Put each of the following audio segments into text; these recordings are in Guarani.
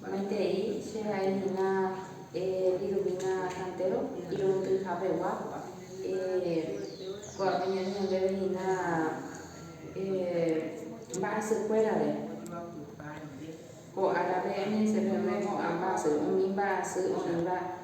Maitei, che ra'y hína irũmína kantéro irundyhapegua, oñe'ẽ ndéve hína mba'asykuérare. Ko árape eñe'ẽse peve ko'ã mba'asy, umi mba'asy, umi mba'e.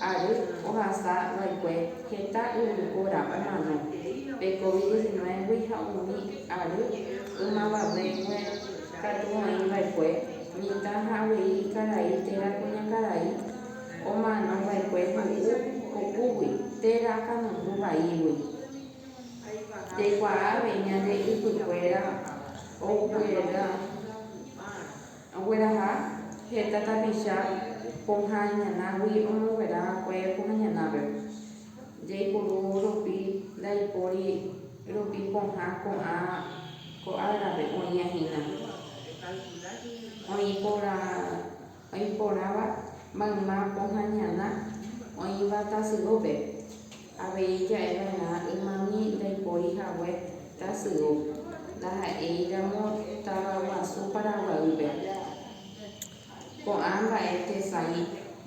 ary ohasa va'ekue heta yvypóra omano pe Covid diecinueve-gui ha umi ary ymavavéngue katu oĩ va'ekue mitã ha avei karai térã kuñakarai omano va'ekue ho'u kokúgui térã kanoju vaígui. Jaikuaa avei ñande ypykuéra ogueroviáva. Ogueraha heta tapicha pohã iñanágui omonguera va'ekue pohã iñanápe. Jaipuru rupi ndaipóri rupi pohã ko'ã árape oĩva hína. Oĩ porãva mayma pohã iñana oĩva tasyópe. Avei ja'e va'erã ymami ndaipóri hague tasy'u, ndaha'éiramo tavaguasu Paraguaýpe. Ko'ã mba'e tesãi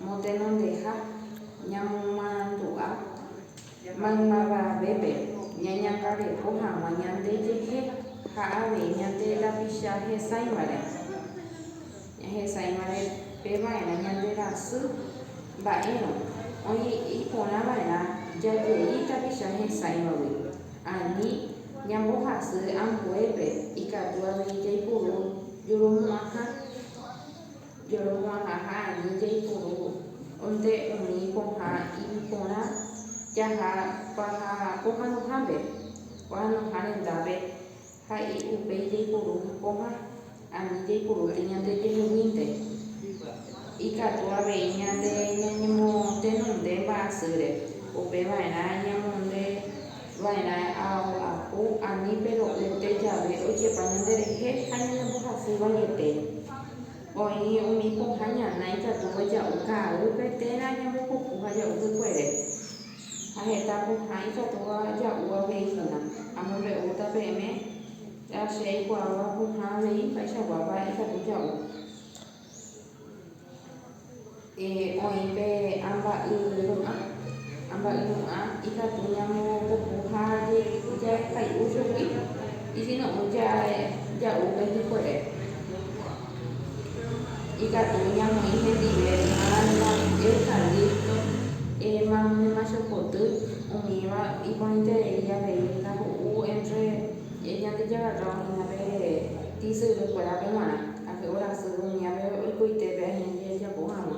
motenondeha ñamomarandu'a maymavavépe ñañangareko hag̃ua ñandejehe ha avei ñande rapicha hesãivare. Ñahesa'iva'erã pe va'erã ñande rasy mba'érõ, oĩ iporã va'erã jajei tapicha hesãivagui. Ani ñambohasy ambuépe ikatu avei jaipuru joromo'ãha joromo'ãha ha ani jaipuru nde umi pohã iporã jaha paha pohãnohápe, pohãnoha rendápe. Ha upéi jaipuru kóva ani jaipuruete ñande jeheguínte. Ikatu avei ñande ñañemotenonde mba'asýre, upe va'erã ñamonde va'erã ao'apu ani pe ro'ýnte jave ojepa ñande rehe ha ñanembohasy vaiete. Oĩ umi pohã ñana ikatúva ja'u ka'aýpe térã ñambopuku ha ja'u hykuere. Ha heta pohã ikatúva ja'u avei hína. Amombe'úta peẽme la che aikuaáva pohã avei mba'eichakuápa ikatu ja'u. Oĩ pe amba'y ru'ã. Amba'y ru'ã ikatu ñamopopu ha jajekai'u chugui, isino'ỹ ja'u pe hikuere. Ikatu ñamoĩ hendive Alma, Eucalipto, Émano de Machopoty, umíva iporãiterei avei ndaho'u entre Ñandejára oĩva pe tisyrýkuérape g̃uarã, orasy umíva pe oikoitépe añete jajapo hag̃ua.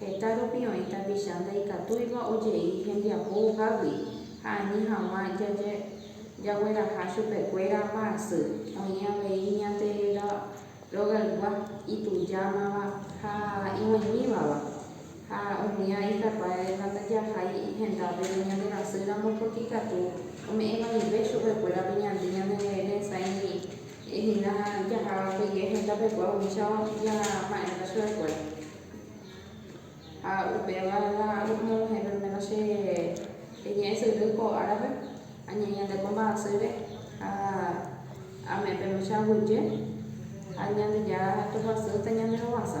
Heta rupi oĩ tapicha ndaikatúiva ojei hembiapo ohágui ha ani hag̃ua jagueraha chupekuéra mba'asy. Oĩ avei Ñandejára rogaygua, itujámava ha ivaimívava. Ha umía ikatuavéva ndajahái hendápe ñande rasýramo pórke ikatu ome'ẽ vaive chupekuérape ñande ñaneresãijeýi hína jahávape hendápe upéva upéicha jama'erãta chupekuéra. Ha upéva la añemoguahẽ perméro che reñe'ẽ sy ry ko árape, añe'ẽ ñande ko mba'asýre ha ame'ẽ pe mbecha aguyje, ha Ñandejára toguasýta ñande rovasa.